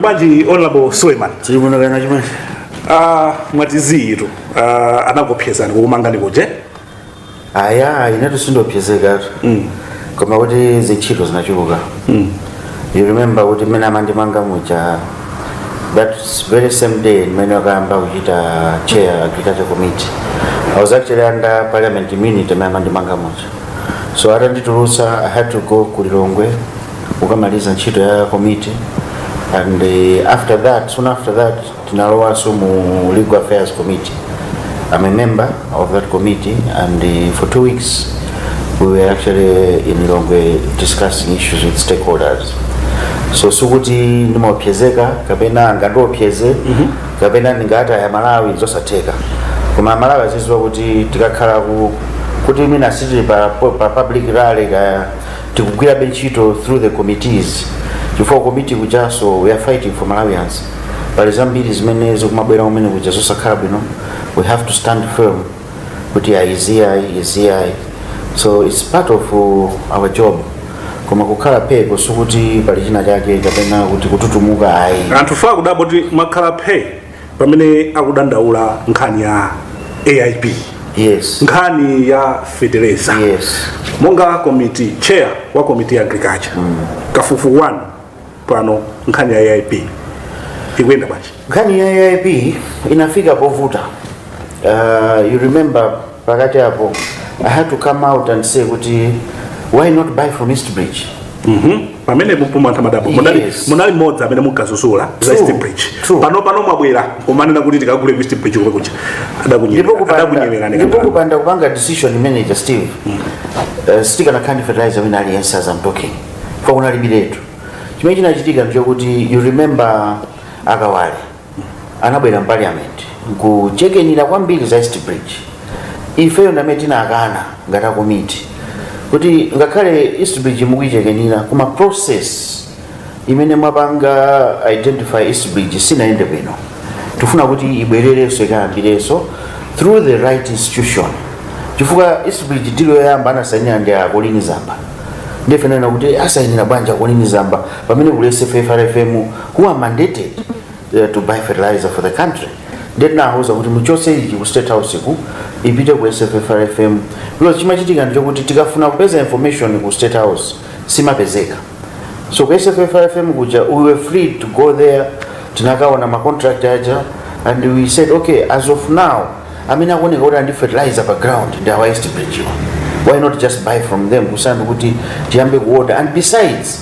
bwanji honorable suleiman chilipo china chimene uh, mwatiziiratu uh, ah, anakuopsezani kukumangani kuje aya inetu sindiopsezekatu mm. koma kuti zintchito zinachuluka mm. you remember kuti mmene amandimanga muja that very same day mmene okayamba kuchita chair agriculture committee i was actually under parliament immunity mmene amandimanga muja so atanditulutsa i had to go ku lilongwe kukamaliza ntchito ya committee and uh, after that soon after that tinalowanso mu legal affairs committee i'm a member of that committee and uh, for two weeks we were actually in lilongwe discussing issues with stakeholders so sikuti ndimaopsezeka kapena angandiopseze kapena ndingataya malawi zosatheka koma malawi azidziwa kuti tikakhala kuti mwina sitili pa, pa public rally kaya tikugwirabe ntchito through the committees chifukwa committee kujanso we are fighting for malawians pali zambiri zimene zikumabwera kumene kuja zosakhala bwino we have to stand firm kuti ayi izi ayi izi ayi so it's part of uh, our job koma kukhala pheeko sikuti pali china chake kapena kuti kututumuka ayi anthu akudabwa kuti mwakhala phee pamene akudandaula nkhani ya aip yes nkhani ya fetereza Yes. monga komiti chair wa komiti ya agriculture kafukufuku wanu pano nkhani ya aip ikuyenda bwanji nkhani ya aip inafika povuta uh, you remember pakati apo i had to come out and say kuti why not buy from east bridge Mhm. pamene mpomwe anthu amadabwa munali Yes. munali mmodzi amene munkadzudzula za True. east bridge True. pano pano mwabwera kumanena kuti tikagule ku east bridge komwe kuja ndipo kupanda- adakunyewerani ndipo kupanda kupanga decision imene ija steve eh, sitikanakhala ndi fertilizer wina aliyense as I'm talking chifukwa kunalibiretu chimene chinachitika ndichokuti you remember a Kawale anabwera mparliament nkuchekenira kwambiri za east bridge ifeyo ndi amene tinakana ngati a komiti kuti ngakhale east bridge mukuichekenira koma process imene mwapanga identify east bridge sinayende bwino tifuna kuti ibwererenso ikayambirenso through the right institution chifukwa east bridge deal yoyamba anasainira ndi a Colleen Zamba nde ife tinanena kuti asainira bwanji a Colleen Zamba pamene kuli SFFRFM who are mandated uh, to buy fertilizer for the country nde tinawauza kuti muchotse izi ku state house ku ipite ku SFFRFM because chimachitika ndichokuti tikafuna kupeza information ku state house simapezeka so ku SFFRFM kuja we were free to go there tinakaona ma contract aja and we said okay as of now amene akuoneka kuti ali ndi fertilizer pa ground ndi a East Bridge why not just buy from them kusiyana kuti tiyambe kuorder and besides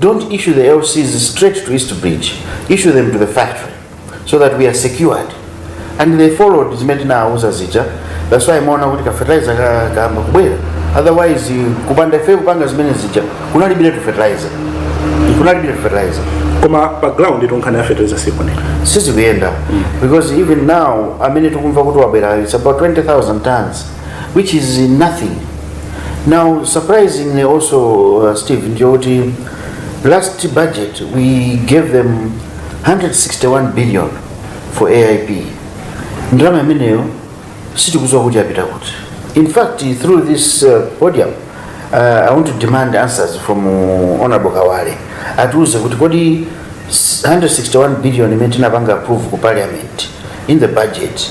Don't issue the LCs straight to East Bridge. Issue them to the factory so that we are secured. And they followed zimene tinawuza zija. That's why imaona kuti ka fertilizer ka- kayamba kubwera. Otherwise you- kupanda ife kupanga zimene zija kunalibiretu fertilizer. Kunalibiretu fertilizer. koma pa ground tu nkhani ya fertilizer sikuoneka Sizikuyenda because even now amene tikumva kuti wabwera it's about 20,000 tons. which is nothing now surprisingly also uh, steve njokuti last budget we gave them 161 billion for aip ndalama imeneyo sitikuziwa kuti yapita kuti in fact through this uh, podium uh, i want to demand answers from uh, honorable kawale atiuze kuti kodi 161 billion imene tinapanga approve ku parliament in the budget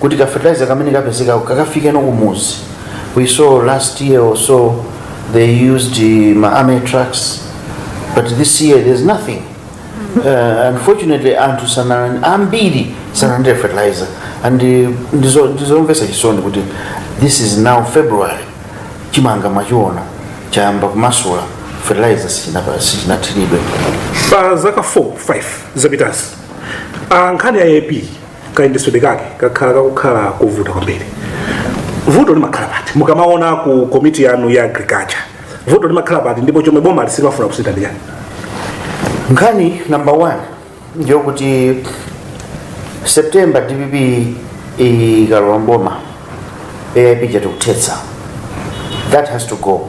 kuti ka fertilizer kamene kapezekako kakafikeno kumuzi we saw last year or so they used uh, ma army trucks but this year there's nothing uh, unfortunately anthu sana ambiri sanalandire fertilizer and uh, ndizo- ndizomvesa chisoni kuti this is now february chimanga mwachiona chayamba kumasula fertilizer sichinapa- sichinathiridwe pa zaka 4 5 zapitazi a nkhani ya ap kayendetsedwe kake kakhala kakukhala kovuta kwambiri vuto limakhala pati mukamaona ku komiti yanu ya agriculture vuto limakhala pati ndipo chomwe boma silimafuna kusintha ndi chani nkhani number one ndiyokuti september dpp ikalowa mboma aip ija tikuthetsa that has to go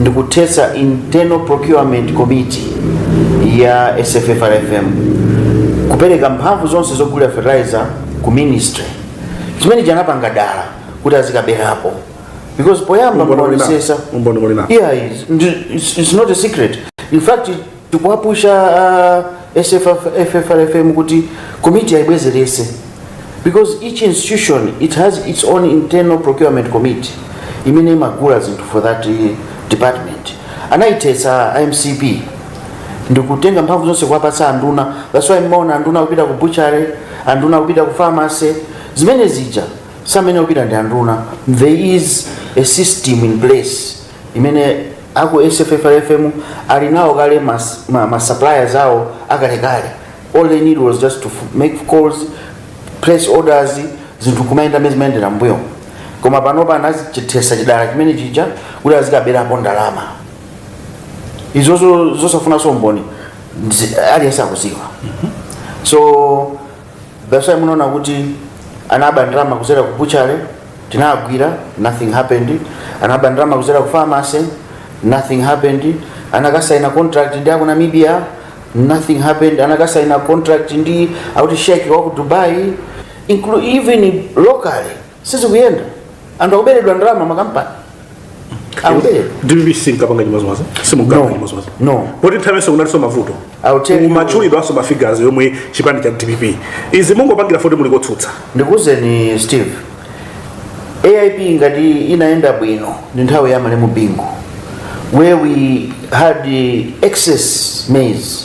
ndikuthetsa internal procurement committee ya sffrfm kupereka mphamvu zonse zogulira fertilizer ku ministry chimene chanapanga dala kuti azikaberapo because poyamba Umboni muli na- onesesa umboni muli na- yeah it's, it's not a secret in fact tikuwapusha uh, sffrfm kuti komiti aibwezerese because each institution it has its own internal procurement committee imene imagula zinthu for that uh, department anayithetsa mcp ndikutenga mphamvu zonse kuwapatsa anduna that's why mmaona anduna kupita ku butchery anduna kupita ku pharmacy zimene zija samayenera kupita ndi anduna there is a system in place imene aku sffrfm ali nawo kale mas- ma, ma suppliers awo akalekale all they need was just to f- make calls place orders zinthu kumayenda mmene zimayendera mbuyo koma panopa anachithesa chidala chimene chija kuti azikaberapo ndalama izozo zosafunanso umboni zi- aliyense akuziwa so that's why munaona kuti anaba ndalama kuzera ku butchery tinagwira nothing happened anaba ndalama kuzera ku pharmacy nothing happened anakasaina contract ndi aku namibia nothing happened anakasaina contract ndi akuti sheikh waku dubai inclu even locally sizikuyenda anthu akuberedwa ndalama makampani akuberedwa dpp sinkapanga chimozimozi simunkapanga chimozimozi No. poti nthawi yonse kunaliso mavuto I'll tell you- kumatchulidwanso mafigures omwe chipani cha dpp izi mungopangira foti muli kotsutsa ndikuwuzeni steve aip ngati inayenda bwino ndi nthawi ya malemu bingu where we had eh, excess maize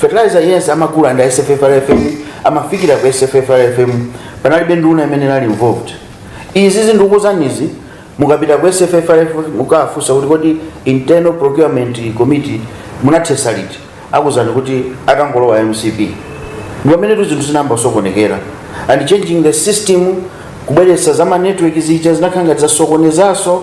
fertilizer yense amagula ndi sffrfm amafikira ku sffrfm panalibe nduna imene inali involved izi ndikukuuzanizi mukapita ku sffrfm mukafunse kuti kodi internal procurement committee munathesa liti akuuzani kuti atangolowa mcp ndi pamene tizinthu zinayamba kusokonekera and changing the system kubweretsa za ma network zija zinakhala ngati zasokonezanso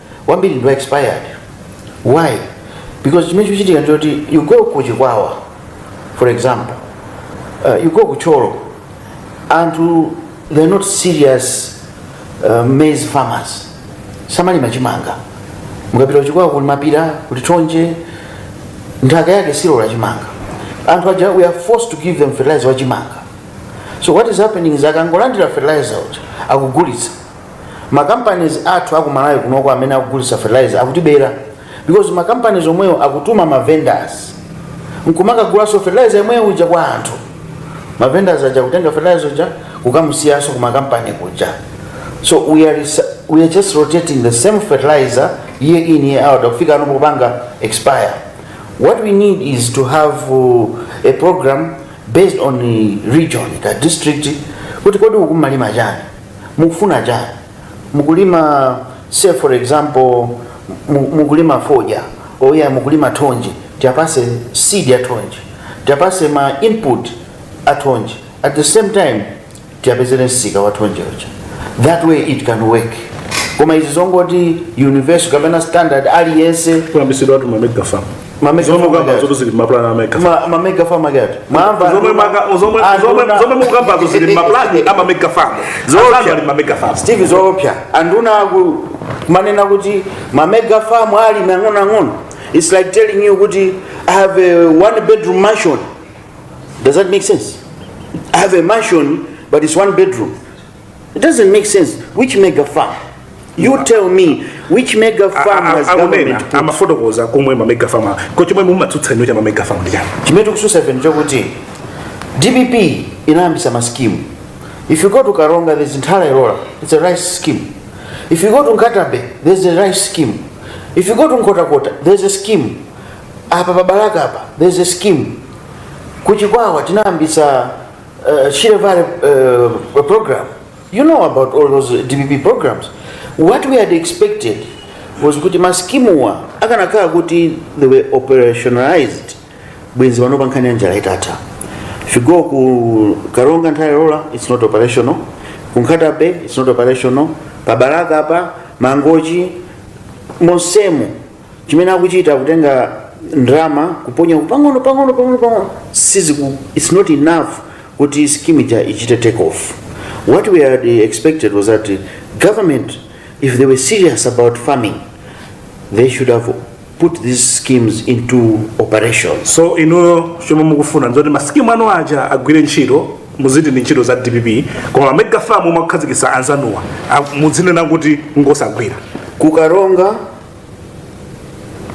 wambiri ndi wa expired why because chimene chikuchitika ndichoti you go ku chikwawa for example uh, you go ku thyolo anthu they're not serious uh, maize farmers samalima chimanga mukapita kuchikwawa kuli mapira kuli thonje nthaka yake silola chimanga anthu aja we are forced to give them fertilizer wa chimanga so what is happening is akangolandira fertilizer uja akugulitsa ma companies athu aku malawi kunoko amene akugulitsa fertilizer sakutibera because ma companies omweyo akutuma ma vendors nkumakagulaso fertilizer yomweyo uja kwa anthu ma vendors aja kutenga fertilizer uja kukamusiyanso ku ma company kuja so we are, resa- we are just rotating the same fertilizer year in year out kufika pano kupanga expire what we need is to have uh, a program based on the region ka district kuti kodi ukumalima chani mukufuna chani mukulima say for example mu- mukulima foja olo mukulima thonje tiapase seed ya thonje tiapase ma input a thonje at the same time tiapezere msika wa thonje uja that way it can work koma izi zongoti universal kapena standard aliyense kuyambisidwa tu mamega farm Mamega farm ake zomwe mukambazo zili maplan a mega Ma- ma mega farm ake ati mwamva zomwe maka zomwe Anthu zomwe na- zomwe mukambazo zili maplan ama mega farm Zoopsa. zomwe ali ma mega farm steve zoopsa anduna kumanena kuti mamega farm ali mang'onoang'ono its like telling you kuti i have a one bedroom mansion does that make sense i have a mansion but its one bedroom It doesn't make sense. Which mega farm? You tell me which mega farm has akunena government put? amafotokoza komwe mamega farm a- ko chomwe mumatsutsa ino cha mamega farm ndi chani chimene tikususa ife ndichokuti dpp inayambisa maskimu if you go to karonga there's nthala ilola it's a rice scheme if you go to nkatabe there's a rice scheme if you go to nkhotakota there's a scheme apa pabalaka apa there's a scheme kuchikwawa tinayambisa uh, Shire Valley uh, program. You know about all those DPP programs. What we had expected was kuti maskimuwa akanakhala kuti they were operationalized bwenzi pano pankhani ya njala itatha if you go ku karonga Nthola Ilola it's not operational ku nkhata bay it's not operational pa balaka apa mangochi monsemo chimene akuchita kutenga ndalama kuponya pang'ono pang'ono pang'ono pang'ono siziku it's not enough kuti scheme ija ichite take off what we had expected was that government if they were serious about farming they should have put these schemes into operations so inuyo chomwe mukufuna ndizoti masikimu anu aja agwire ntchito muziti ndi ntchito za dpp koma mamega famu mwakukhazikisa anzanuwa a- mudzinena kuti ngosagwira ku Karonga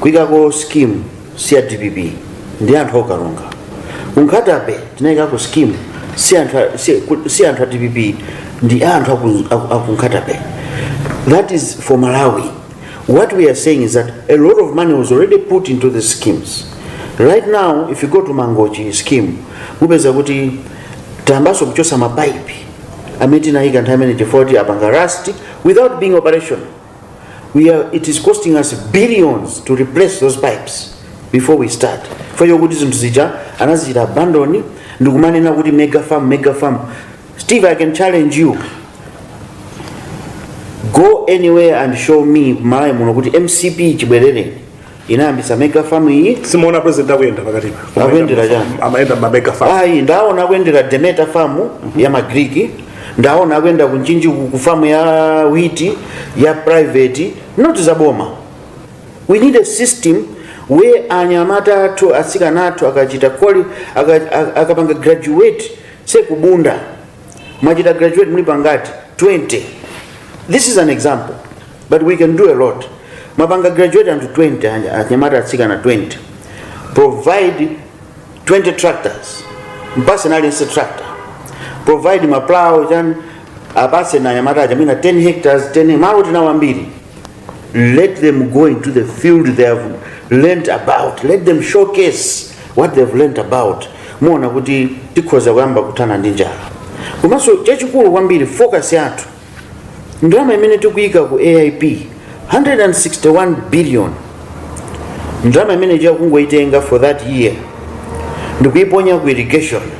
kuikako scheme si ya dpp ndi anthu a ku Karonga ku Nkhata Bay tinaikako scheme si anthu a- si- ku- si anthu a dpp ndi anthu aku- aku- aku Nkhata Bay that is for malawi what we are saying is that a lot of money was already put into the schemes right now if you go to mangochi scheme mupeza kuti tayambanso kuchotsa mapaipi amene tinayika nthawi imene chifukwa choti apanga rust without being operational we are, it is costing us billions to replace those pipes before we start fayo kuti zinthu zija anazichita abandoni ndikumanena kuti mega farm mega farm steve i can challenge you go anywhere and show me malayi muno kuti mcp chibwerereni inayambisa mega farm iyi simuona president akuyenda pakati pa Akuyendera chani? amayenda ma mega farm ayi ndaona akuyendera Demeter farm ya magriki ndaona akuyenda ku Mchinji ku ku farm ya wheat ya private not za boma we need a system where anyamata athu atsikana athu akachita quali- aka- aka- akapanga graduate say ku Bunda mwachita graduate mulipo ngati 20 this is an example but we can do a lot mwapanga graduate anthu 20 anja- anyamata atsikana 20 provide 20 tractors mpatseni aliyense tractor provide maplow chani apatseni anyamata aja mwina 10 hectares 10 malo tinawo ambiri Let them go into the field they have learnt about. Let them showcase what they have learnt about. Muona kuti tikhoza kuyamba kuthana ndi njala. Komanso chachikulu kwambiri focus yathu ndalama imene tikuyika ku AIP 161 billion ndalama imene ija kungoitenga for that year ndikuiponya ku irrigation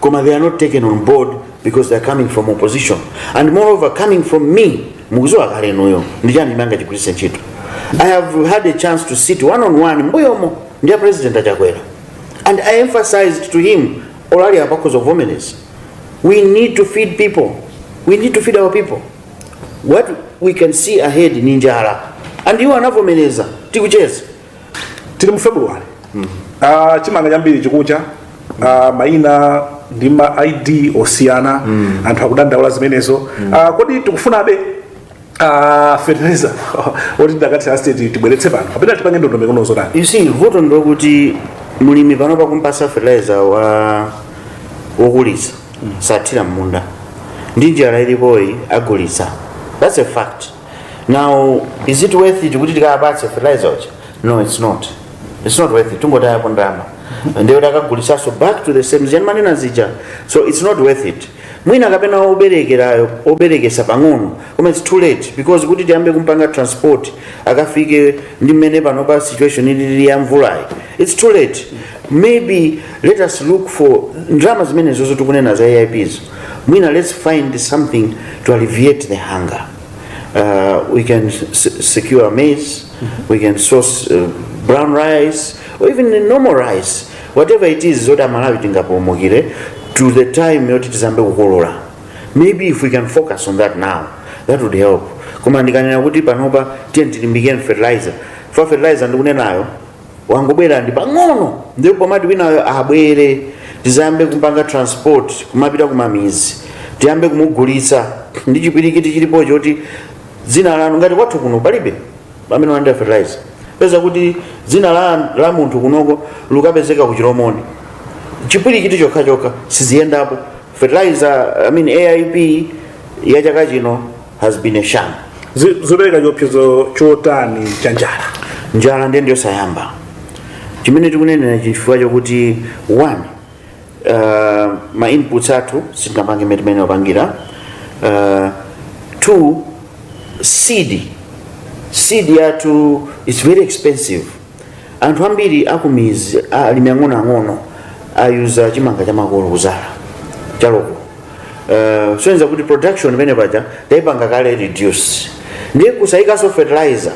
koma they are not taken on board because they are coming from opposition and moreover coming from me mukuziwa kale inuyo ndichani mangochigwiritsa ntchito i have had a chance to sit one on one mbuyomo ndi a president a Chakwera and i emphasized to him olo ali apa akhoza kuvomereza we need to feed people we need to feed our people what we can see ahead ndi njala and iwo anavomereza tikucheza tili mu february Ah, chimanga chambiri chikucha Ah, maina ndi ma id osiyana anthu akudandaula zimenezo Ah, kodi tikufunabe ah, fertilizer oti tidzakati a state tibweretse pano kapena tipange ndondomeko ndi zotani you see vuto ndi lokuti mlimi panopa kumpatsa fertilizer wokulitsa sathira mmunda ndi njala ilipoyi agulitsa that's a fact now is it worth it kuti tikawapatse fertilizer uja no it's not it's not worth it tungotayapo ndalama ndiye kuti akagulitsanso back to the same zija ndimanena zija so it's not worth it mwina kapena oberekerayo oberekesa pang'ono koma it's too late because kuti tiyambe kumpanga transport akafike ndi mmene pano pa situation ilili ya mvulayi it's too late maybe let us look for ndalama zimenezo tikunena za aips mwina let's find something to alleviate the hunger uh, we can s- secure maize we can source uh, brown rice or even the normal rice whatever it is zoti amalawi tingapulumukire to the time yoti tizambe kukolola maybe if we can focus on that now that would help koma ndikanena kuti panopa tiye tilimbikire fertilizer fa fertilizer ndikunenayo wangobwera ndi pang'ono ndi pomati winayo abwere tizayambe kumpanga transport kumapita kumamidzi tiyambe kumugulitsa ndi chipwirikiti chilipo choti dzina lanu ngati kwathu kuno palibe amene walandira fertilizer peza kuti dzina la, la munthu kunoko lukapezeka ku chilomoni chipwirikiti chokhachokha siziyendapo fertilizer I mean aip ya chaka chino has been a sham Zi- zopereka chiopsezo chotani cha njala njala ndiye ndiyosayamba chimene ndikunenera chifukwa chokuti one uh, ma inputs athu sitinapange mmene timene timapangira uh, two seed seed yathu is very expensive anthu ambiri akumidzi alimi ang'onoang'ono ayuza chimanga chamakolo kudzala cha local uh, zosonyeza kuti production imene paja taipanga kale reduce ndiye kusayikanso fertilizer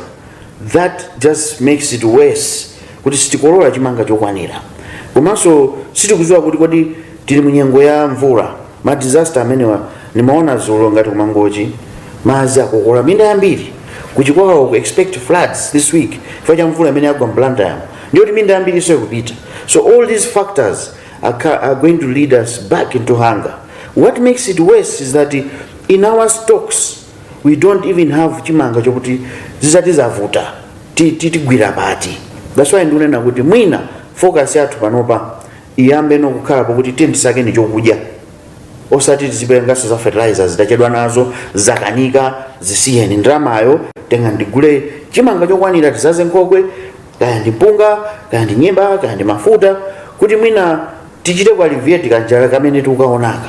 that just makes it worse kuti sitikolola chimanga chokwanira komanso sitikudziwa kuti kodi tili mu nyengo ya mvula ma disaster amenewa nimaona dzulo ngati kumangochi madzi akokola minda yambiri kuchikwawa tiku expect floods this week chifukwa cha mvula imene yagwa m'Blantyre mo ndiyoti minda yambirinso ikupita so all these factors are, ca- are going to lead us back into hunger what makes it worse is that in our stocks we don't even have chimanga chokuti zitati zavuta ti- ti- tigwira pati that's why ndikunena kuti mwina focus yathu panopa iyambeno kukhala pokuti tiye tisakeni chokudya osati tizipanganso za fertilizers tachedwa nazo zakanika zisiyeni ndalamayo tengani tigule chimanga chokwanira tidzadze nkhokwe kaya ndi mpunga kaya ndi nyemba kaya ndi mafuta kuti mwina tichite ku alleviate kanjala kamene tikukaonaka